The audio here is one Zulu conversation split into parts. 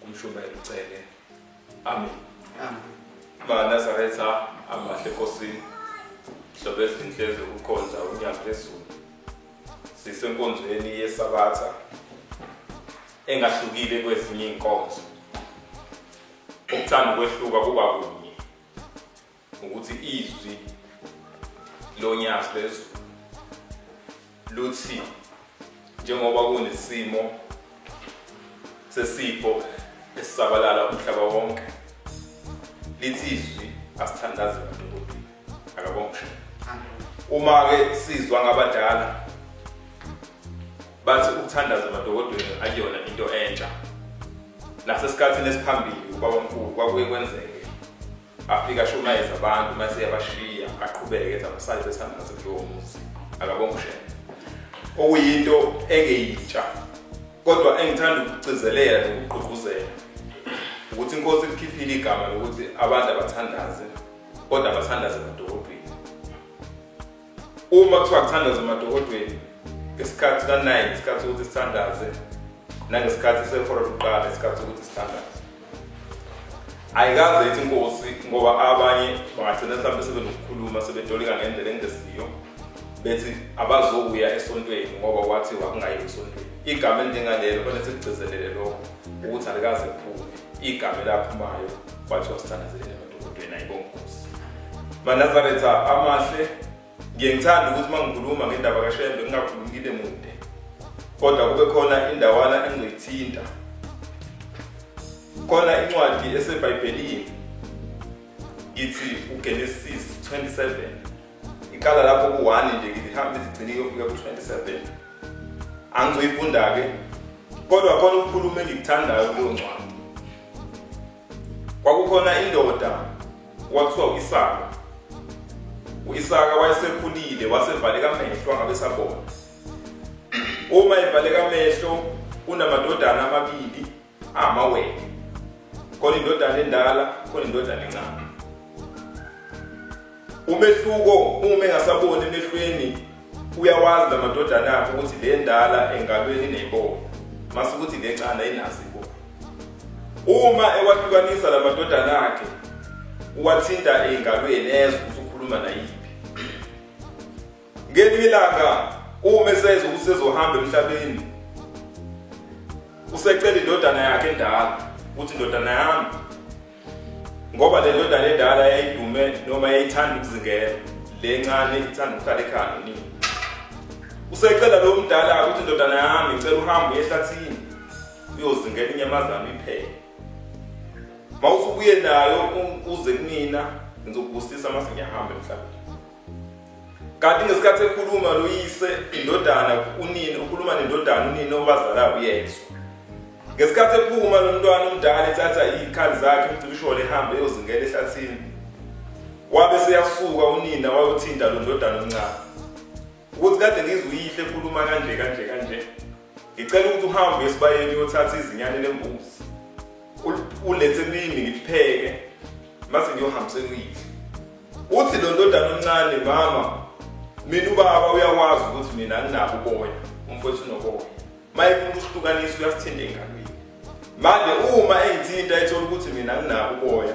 Kumshumayela uCele. Amen. Amen. MaNazaretha amahle enkosini. Hlobo ezinhle zokukhonza unyaka phezulu. Sisenkonzweni yesabatha engahlukile kwezinye inkonzo. Ukuthanda ukwehluka kuba kunye. ukuthi izwi lonyazi lezulu luthi njengoba kunesimo sesifo esisabalala umhlaba wonke lithi izwi asithandaze abantu kodwa akabongisho uma ke sizwa ngabadala bathi ukuthandaza amadokotela akuyona into entsha nasesikhathini esiphambili ubabamkhulu kwakuye kwenzeke afika ashumayeza abantu mase yabashiya aqhubeke ethi abasale besihamba ngaso kulowo muzi akabonga ushembe okuyinto engeyitsha kodwa engithanda ukugcizelela nokugqugquzela ukuthi inkosi ikhiphile igama lokuthi abantu abathandaze kodwa abathandaze badolobheni uma kuthiwa kuthandaza emadokodweni ngesikhathi ka-nine isikhathi sokuthi sithandaze nangesikhathi sehora lokuqala isikhathi sokuthi sithandaze ayikaze ithi inkosi ngoba abanye bangagcina mhlawumbe sebenokukhuluma sebetolika ngendlela engesiyo bethi abazokuya esontweni ngoba wathi wakungayi esontweni igama elinjengalelo fanele sikugcizelele lokho ukuthi alikaze kuphume igama elaphumayo kwathiwa sithandazelele Ubhena ibongosi. Manazaretha amahle ngiye ngithanda ukuthi uma ngikhuluma ngendaba kaShembe ngingakhulumi ngide mude. Kodwa kube khona indawana engiyithinta. Khona incwadi eseBhayibhelini ithi uGenesis 27 iqala lapho ku-1 nje ngihamba izigcine kuyofika ku-27 angizoyifunda-ke kodwa khona ukukhuluma engikuthandayo kuleyo ncwadi Kwakukhona indoda kwakuthiwa uIsaka. UIsaka wayesekhulile wasevaleka amehlo angabe sabona. Uma evaleka amehlo unamadodana amabili amawele. Khona indodana endala, khona indodana encane. Umehluko uma engasaboni emehlweni uyawazi lamadodana akhe ukuthi le ndala engalweni ineyibona mase ukuthi le ncane ayinazi ibona. Uma ewahlukanisa lamadodana akhe uwathinta engalweni ezwe ukuthi ukhuluma nayiphi. Ngelinye ilanga uma esezwa ukuthi sezohamba emhlabeni usecela indodana yakhe endala ukuthi indodana yami ngoba le ndodana endala yayidume noma yayithanda ukuzingela le ncane ithanda ukuhlala ekhaya nini usecela lo mdala ukuthi indodana yami ngicela uhambe uye ehlathini uyozingela inyamazane iphele mawusubuye nayo uze kunina ngizokubusisa mase ngiyahamba emhlabeni kanti ngesikhathi ekhuluma loyise indodana unini ukhuluma nendodana unini obazalayo uyezwa ngesikhathi ephuma lo mntwana omdala ethatha iy'khali zakhe umcibisholo ehambe eyozingela ehlathini wabe seyasuka unina wayothinta lo ndodana omncane ukuthi kade ngizwe uyihle ekhuluma kanje kanje kanje ngicela ukuthi uhambe esibayeni uyothatha izinyane lembuzi ulethe kimi ngipheke mase ngiyohambise kuyidla uthi lo ndodana omncane mama mina ubaba uyakwazi ukuthi mina anginabo uboya umfowethu unoboya mayefuna ukuhlukanisa uyasithinta engalweni manje uma engithinta ethola ukuthi mina anginabo uboya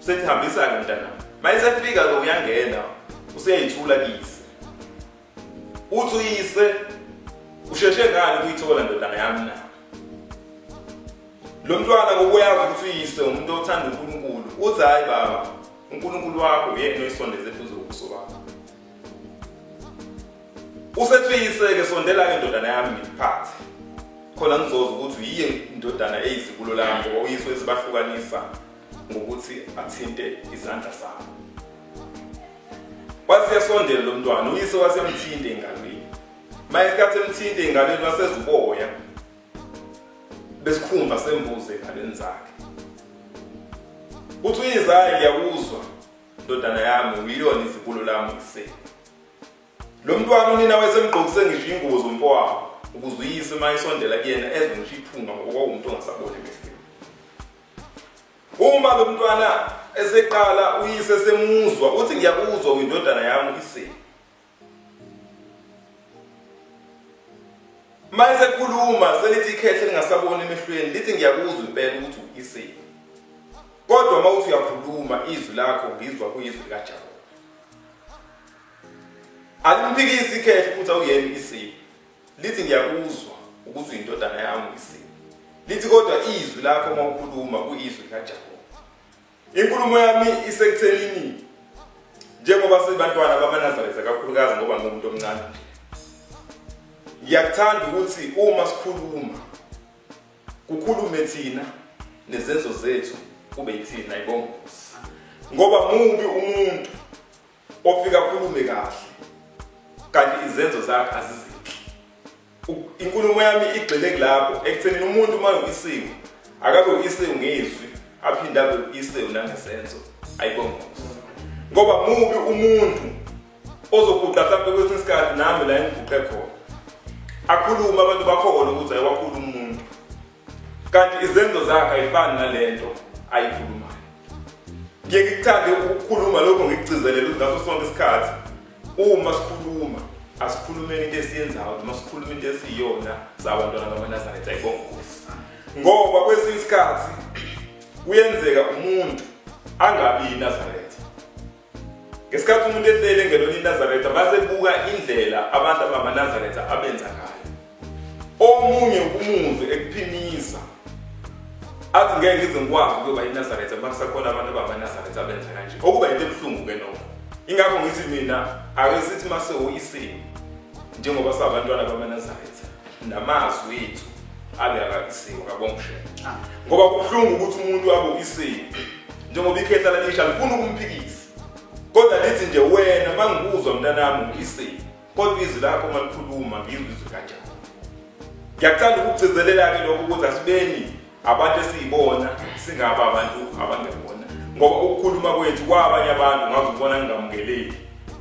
Usethi hambisa-ke mntana. Mayesefika-ke uyangena useyayithula kisi. Uthi uyise usheshe ngani kuyithola ndodana yami na? Lo mntwana kokuyazi ukuthi uyise umuntu othanda uNkulunkulu. Uthi hayi baba, uNkulunkulu wakho uyena oyisondeze eduze kobuso bakho. Usethi uyise-ke sondela-ke ndodana yami ngiphathe. khona ngizoza ukuthi yiye indodana eyizibulo lami ngoba uyise wesibahlukanisa ngokuthi athinte izandla zami wasiyasondela lo mntwana uyise wasiyamthinta engalweni maye isikhathi emthinta engalweni wasezuboya besikhumba sembuzi engalweni zakhe uthi uyizayo ngiyakuzwa ndodana yami uyilona izibulo lami kuseni lo mntwana unina wayesemgqokise ngisho ingubo zomfowabo ukuze uyise uma esondela kuyena ezwe ngisho iphunga ngoba kwawumuntu ongasaboni emehlweni Uma lo mntwana eseqala uyise semuzwa uthi ngiyakuzwa kwindodana yami uyise. Manje sekhuluma selithi ikhethe lingasaboni emehlweni lithi ngiyakuzwa impela ukuthi uyise. Kodwa uma uthi uyakhuluma izwi lakho ngizwa kuyizwi likaJehova. Alimphikisi ikhehle futhi awuyena isiphi. Lithi ngiyakuzwa ukuthi uyindodana yami uyisini. Lithi kodwa izwi lakho uma ukhuluma kuyizwi likaJehova. Inkulumo yami isekuthenini njengoba sibantwana bamaNazaretha kakhulukazi ngoba ngumuntu omncane. Ngiyakuthanda ukuthi uma sikhuluma kukhulume thina nezenzo zethu kube yithina ibongozi. Ngoba mubi umuntu Ofika akhulume kahle kanti izenzo zakhe azizinhle. Inkulumo yami igxile kulapho ekuthenini umuntu uma uyisiwe akabe uyisiwe ngezwi aphinde abe uyisiwe nangesenzo ayibongozi. Ngoba mubi umuntu ozoguqa mhlawumbe kwesinye isikhathi nami la engiguqe khona. Akhulume abantu bakhona ukuthi ayiwakhulu umuntu. kanti izenzo zakhe ayifani nalento ayikhulumayo ngiye ngikuthande ukukhuluma lokho ngikucizelele ukuthi ngaso sonke isikhathi uma sikhuluma asikhulumeni into esiyenzayo noma sikhuluma into esiyiyona sabantwana bamanazaretha ayibongozi ngoba kwesinye isikhathi kuyenzeka umuntu angabi yinazaretha Ngesikhathi umuntu ehleli engelona iNazaretha basebuka indlela abantu abamaNazaretha abenza ngayo. Omunye umuzwe ekuphimisa athi ngeke ngize ngikwazi ukuyoba iNazaretha makusakhona abantu abamaNazaretha abenza kanje. Okuba into ebuhlungu ke nokho. Ingakho ngithi mina ake sithi mase uyisini njengoba sabantwana bamaNazaretha. namazwi ethu abe akakisiwe kabongishela ah. ngoba kubuhlungu ukuthi umuntu abe uyisile njengoba ikhehla lalisha lifuna ukumphikisa kodwa lithi nje wena mangikuzwa mntanami uyisile kodwa izwi lakho malikhuluma ngizwe izwi kanjani ngiyakuthanda ukugcizelela-ke lokho ukuthi asibeni Abantu esiyibona singaba abantu abangebona ngoba ukukhuluma kwethu kwabanye abantu ngaze ubona ngingamukeleki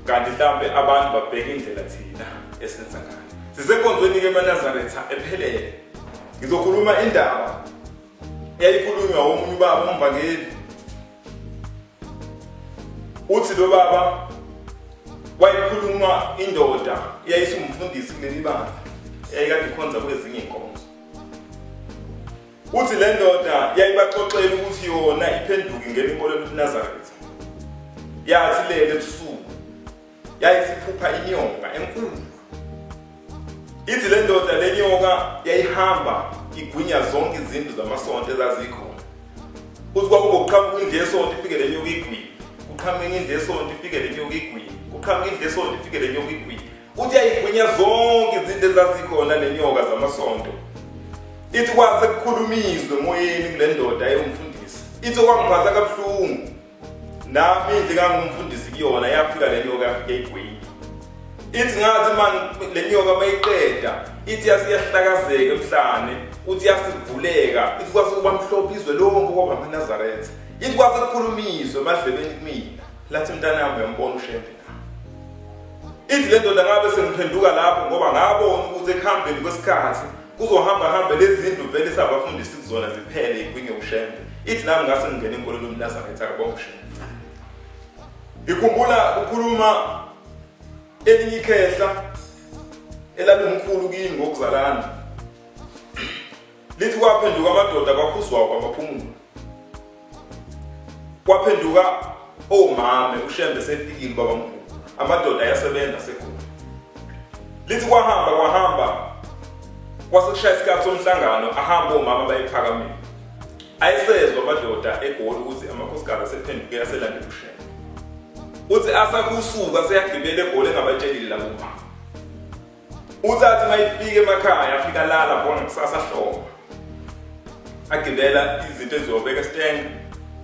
kanti mhlawumbe abantu babheke indlela thina esenza ngayo sisenkonzweni-ke emanazaretha ephelele ngizokhuluma indaba eyayikhulunywa womunye ubaba umvangeli uthi lo baba wayekhuluma indoda eyayisumfundisi kuleli bandla eyayikade ikhonza kwezinye inkonzo uthi le ndoda yayibaxoxela ukuthi yona iphenduke ngena inkolelo yobunazaretha yathi lele ebusuku yayisiphupha inyoka enkulu ithi le ndoda le nyoka yayihamba igwinya zonke izindlu zamasonto ezazikhona uthi kwakubokuqhamuka indlu yesonto ifike le nyoka igwini kuqhamuka indlu yesonto ifike le nyoka igwini kuqhamuka indlu yesonto ifike le nyoka igwini Uthi yayigwinya zonke izinto ezazikhona nenyoka zamasonto. Ithi kwase kukhulumiswe emoyeni kule ndoda eyomfundisi. Ithi okwangiphatha kabuhlungu. Nami indle kangumfundisi kuyona yafika le nyoka yafika igwinya. Ithi ngathi man le nyoka mayiqeda ithi yasiyahlakazeka emhlane uthi yasivuleka ithi kwase kuba mhlophe izwe lonke kwaba amaNazaretha. Ithi kwase kukhulumiswe emadlebeni kumina. Lathi mntanami uyambona uShembe. Ithi le ndoda ngabe sengiphenduka lapho ngoba ngabona ukuthi ekuhambeni kwesikhathi kuzohamba hambe lezi zindlu vele sabafundisi kuzona ziphele ikwinge ushembe ithi nami ngase ngingena enkolweni umnazaretha kabonga ushembe ngikhumbula ukhuluma elinye ikhehla elalumkhulu kimi ngokuzalana Lithi kwaphenduka amadoda kwakhuzwayo kwabaphumula. Kwaphenduka omame uShembe sefikile babamkhulu. Amadoda ayasebenza sekhona. Lithi kwahamba kwahamba kwasekushaya isikhathi somhlangano ahamba omama bayiphakamile ayisezwa amadoda egoli ukuthi amakhosikazi asephenduke aselande kushela uthi asakusuka seyagibela egoli engabatshelile labo mama Uthathe mayifike emakhaya afika lala bona kusasa hlobo. Agibela izinto ezobeka esitenge.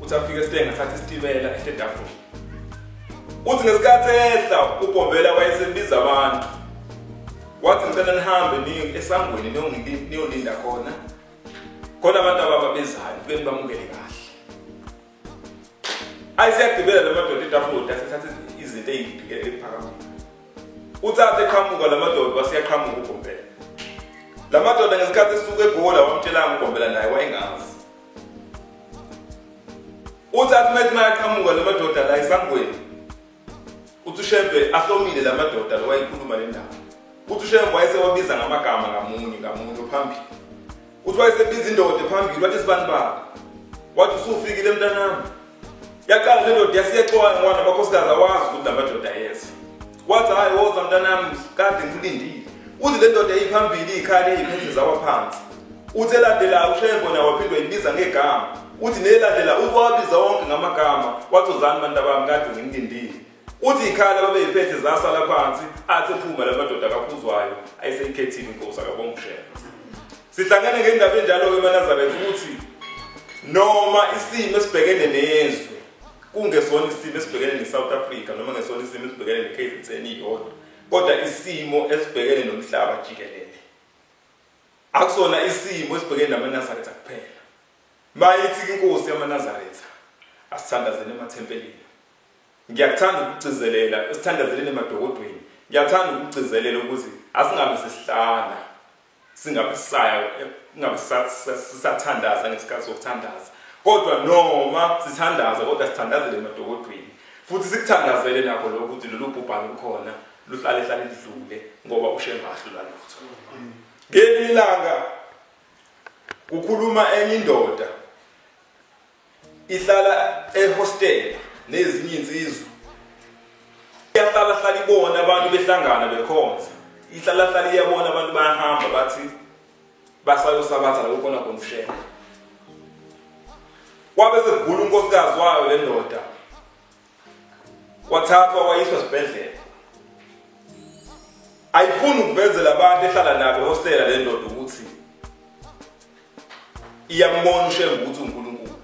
Uthi afike esitenge athathe isitibela ehlendafuni. Uthi ngesikhathi ehla uBhombela wayesebiza abantu. Wathi ngicela nihambe ningi esangweni niyolinda khona. Khona abantu ababa bezayo kube bamukele kahle. ayi siyagibela la madoda itafula asithathe izinto eziphike ephakamile uthathe eqhamuka la madoda wasiyaqhamuka ugombela la madoda ngesikhathi esuke egola wamtshelanga ugombela naye wayengazi uthathe uma ethi mayaqhamuka la madoda la esangweni Uthi uShembe ahlomile la madoda lo wayekhuluma le ndaba. Uthi uShembe wayesewabiza ngamagama ngamunye ngamunye phambili. Uthi wayesebiza indoda phambili wathi sibani baba. Wathi usufikile mntanami. Yaqala le ndoda yasiyexoka ngwana abakhosikazi awazi ukuthi la madoda yeza. Wathi hayi woza mntanami kade ngilindile. Uthi le ndoda iphambili ikhale iphethe zawa phansi. Uthi elandelayo uShembe nawaphindwa ibiza ngegama. Uthi nelandela ukwabiza wonke ngamagama wathi uzani bantu abami kade ngimlindile. Uthi ikhaya lababeyiphethe zasala phansi athi phuma lamadoda kaphuzwayo ayiseyikhethile inkosi akabongushela. Sihlangene ngendaba enjalo ke eManazaretha ukuthi noma isimo esibhekene nezwe kungesona isimo esibhekene neSouth Africa noma ngesona isimo esibhekene neKZN iyodwa kodwa isimo esibhekene nomhlaba jikelele akusona isimo esibhekene namaNazaretha kuphela Mayithi inkosi yamaNazaretha, asithandazeni emathempelini. Ngiyakuthanda ukugcizelela, esithandazeleni emadokodweni. Ngiyathanda ukugcizelela ukuthi asingabe sesihlala singabe sisaya ingabe sisathandaza ngesikhathi sokuthandaza kodwa noma sithandaza kodwa sithandazele emadokodweni futhi sikuthandazele nakho lokho ukuthi lolu bhubhane lukhona luhlale hlale lidlule ngoba ushengahlula lutho ngelinye ilanga Kukhuluma enye indoda ihlala ehostela nezinye insizwa. Iyahlala hlala ibona abantu behlangana bekhonza. Ihlala hlala iyabona abantu bayahamba bathi basayosabatha la kukhona khona ushela. Kwabe sekugula unkosikazi wayo le ndoda. wathathwa wayiswa esibhedlela ayifuni ukuvezela abantu ehlala nabo ehostela le ndoda ukuthi iyambona ushembe ukuthi unkulunkulu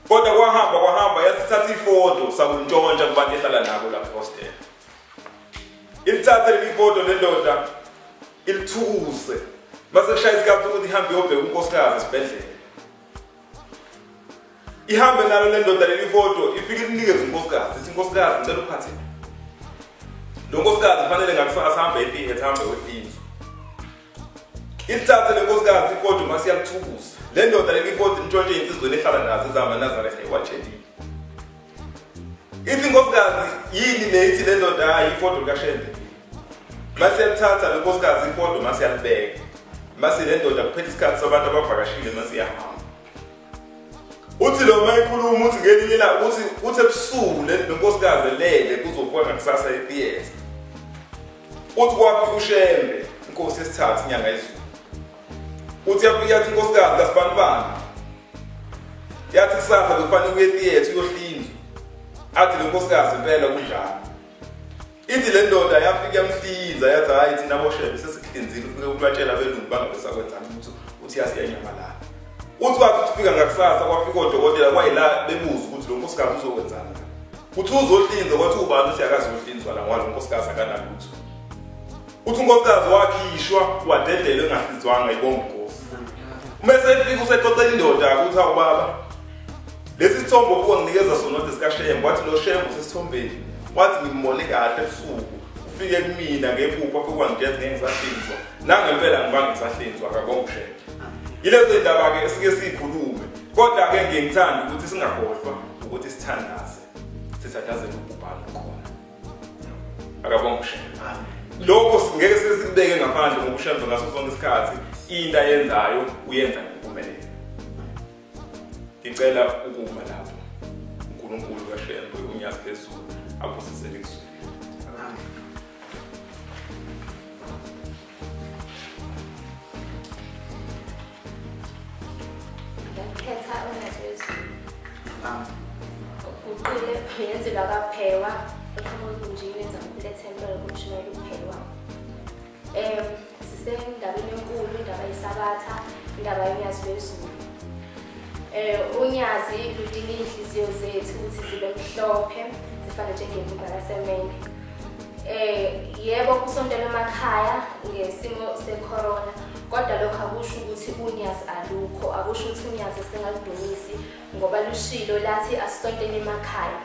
kodwa kwahamba kwahamba yasithatha ifoto sakuntshontsha kubantu ehlala nabo lapho ehostela ilithathe leli foto le ndoda ilithukuse mase kushaya isikhathi sokuthi ihambe iyobheka unkosikazi esibhedlela ihambe nalo le ndoda leli foto ifike linikeze unkosikazi ithi nkosikazi ngicela uphathe lo nkosikazi kufanele ngakusasa ahambe epihet ahambe wefinzo ilithathe le nkosikazi ifoto masiyakuthukusa le ndoda leli foto intshontshe insizweni ehlala nazo ezihamba nazaretha iwatshelile ithi nkosikazi yini le ithi le ndoda hayi ifoto likashende masiyalithatha lo nkosikazi ifoto masiyalibeka mase le ndoda kuphela isikhathi sabantu abavakashile masiyahamba uthi lo mayikhuluma uthi ngelinye la uthi uthi ebusuku le nonkosikazi elele kuzokuwa ngakusasa etheatre uthi kwaphi ushembe inkosi esithathu inyanga izulu uthi yaphi yathi inkosikazi kasibanibani yathi kusasa kufanele uye etheatre uyohlinzwa athi lo nkosikazi impela kunjalo ithi le ndoda yafika yamhlinza yathi hhayi thina boshebe sesikuhlinzile ufike ubatshela abelungu bangabe sakwenzani ukuthi uthi yasiyanyamalala uthi wathi ufika ngakusasa kwafika odokotela kwayila bebuza ukuthi lo nkosikazi uzokwenzani kuthi uzohlinza kwathi ubani uthi akazohlinzwa la ngoba lo nkosikazi akanalutho uthi unkosikazi wakhishwa wadedelwe engasizwanga ibonga inkosi uma esefika usexoxela indoda ukuthi awubaba lesi sithombo kuwa nginikeza sona ukuthi sikashembo wathi lo shembo sesithombeni wathi ngimbone kahle ebusuku ufike kumina ngekupha kokwangithetha ngeke ngisahlinzwa nangempela ngibange ngisahlinzwa akabonga ushembo yilezo yindaba-ke esike siyikhulume kodwa-ke ngiye ngithanda ukuthi singakhohlwa ukuthi sithandaze sithandazele ukubhala khona akabonga ushemba lokho singeke sizibeke ngaphandle ngokushemba ngaso sonke isikhathi into ayenzayo uyenza ngempumelelo ngicela ukuma lapho unkulunkulu kashembe unyazi phezulu abusisele kuzulu ngiyakhetha ongazwezulu uguqile yenzelwa kaphekwa eqhamuka egunjini yenza mkhulu ethempela kumshumayela ukuphekwa um sisendabeni enkulu indaba yesabatha indaba yonyazi lwezulu um unyazi ludinga iy'nhliziyo zethu ukuthi zibe mhlophe zifane njengembuga lasemende Eh yebo kusontela emakhaya ngesimo secorona kodwa lokho akusho ukuthi unyazi alukho akusho ukuthi unyazi singaludumisi ngoba lushilo lathi asisontele emakhaya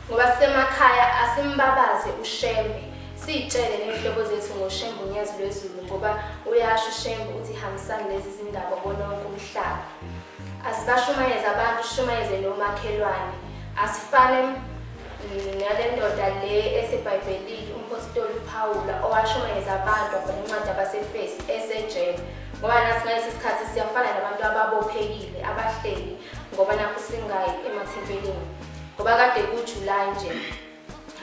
ngoba sisemakhaya asimbabaze ushembe siyitshele ney'hlobo zethu ngoshembe unyazi lwezulu ngoba uyasho ushembe ukuthi hambisani lezi zindaba bona wonke umhlaba asibashumayeze abantu shumayeze nomakhelwane asifane ngale ndoda le esebhayibhelini umphostoli uphawula owashumayeza abantu abhala incwadi abasefesi esejele ngoba nathi ngalesi sikhathi siyafana nabantu ababophekile abahleli ngoba nakho singayi emathempelini ngoba kade kujulayi nje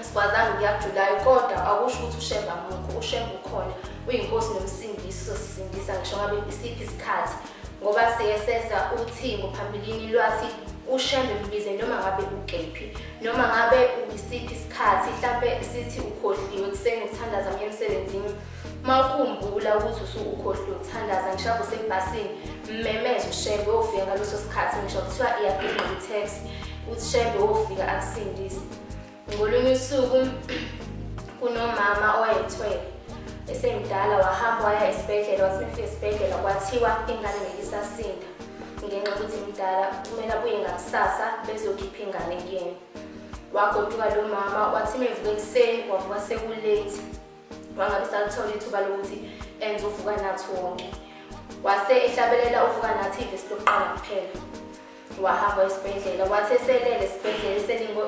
asikwazanga ukuya kujulayi kodwa akusho ukuthi ushemba mukho ushemba ukhona uyinkosi nomsindisi sosisindisa ngisho ngabe isiphi isikhathi ngoba siye seza uthingo phambilini lwathi ushembe mbize noma ngabe ukephi noma ngabe uyisiphi isikhathi mhlampe sithi ukhohliwe kuseni ukuthandaza kuye emsebenzini uma ukhumbula ukuthi usukukhohliwe ukuthandaza ngisho usebhasini mmemeze ushembe ofika ngaleso sikhathi ngisho kuthiwa iyagqigqa i-taxi uthi shembe ofika akusindise Ngolunye usuku kunomama owayethwele esemdala wahamba waya esibhedlela wathi mefika esibhedlela kwathiwa ingane ngeke isasinda ngenxa yokuthi mdala kumele abuye ngakusasa bezokhipha ingane kuyena wagoduka lo mama wathi mevuka ekuseni kwavuka sekulate wangabe salithola ithuba lokuthi enze uvuka nathi wonke wase ehlabelela uvuka nathi ivesi lokuqala kuphela wahamba esibhedlela wathi eselele esibhedlela eselinde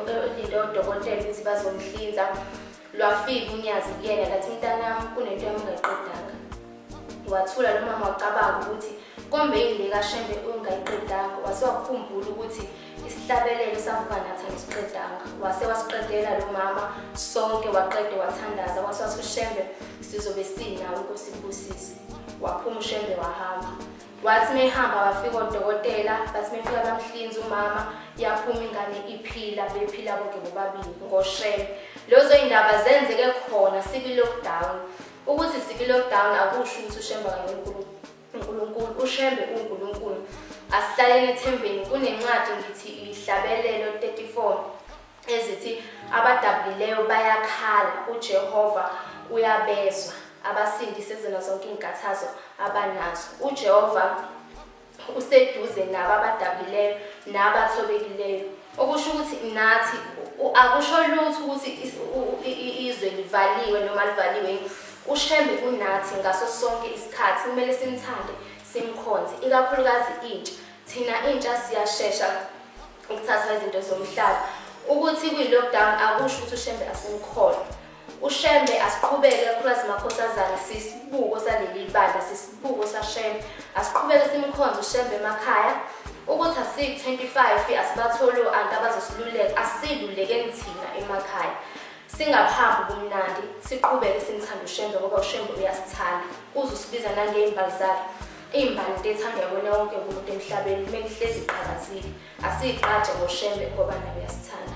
odokotela ukuthi bazomhlinza lwafika unyazi kuyena lathi mntanami kunento yamungaqedanga wathula lo mama wacabanga ukuthi kombe yini lekashembe ungayiqedanga wase wakhumbula ukuthi isihlabelelo savuka nathi ngisiqedanga wase wasiqedela lo mama sonke waqede wathandaza wase wasushembe sizobe sinawo kusibusisi waphuma ushembe wahamba Wathi mehamba wafika odokotela bathi mefika bamhlinza umama yaphuma ingane iphila bephila bonke bobabili ngoshele. Lozo indaba zenzeke khona sibi lockdown. Ukuthi sibi lockdown akusho ukuthi uShembe kaNkulunkulu. uNkulunkulu uShembe uNkulunkulu. Asihlalele ethembeni kunencwadi ngithi ihlabelelo 34. ezithi abadabukileyo bayakhala uJehova uyabezwa abasindise kuzona zonke izinkathazo abanazo uJehova useduze nabo abadabukileyo nabathobekileyo okusho ukuthi nathi akusho lutho ukuthi izwe livaliwe noma livaliwe ushembe kunathi ngaso sonke isikhathi kumele simthande simkhonze ikakhulukazi intsha thina intsha siyashesha ukuthatha izinto zomhlaba ukuthi kwi-lockdown akusho ukuthi ushembe asimkhona ushembe asiqhubeke kakhulukazi makhosazana sisibuko saleli bandla sisibuko sashembe asiqhubeke simkhonze ushembe emakhaya ukuthi asiyi-25 asibatholi o-anti abazosiluleka asilulekeni thina emakhaya singahambi kumnandi siqhubeke simthanda ushembe ngoba ushembe uyasithanda uze usibiza nangey'mbali zakhe Imbali into ethandwa kona wonke umuntu emhlabeni kumele ihlezi iqhakazile. Asiyiqaje ngoshembe ngoba nayo yasithanda.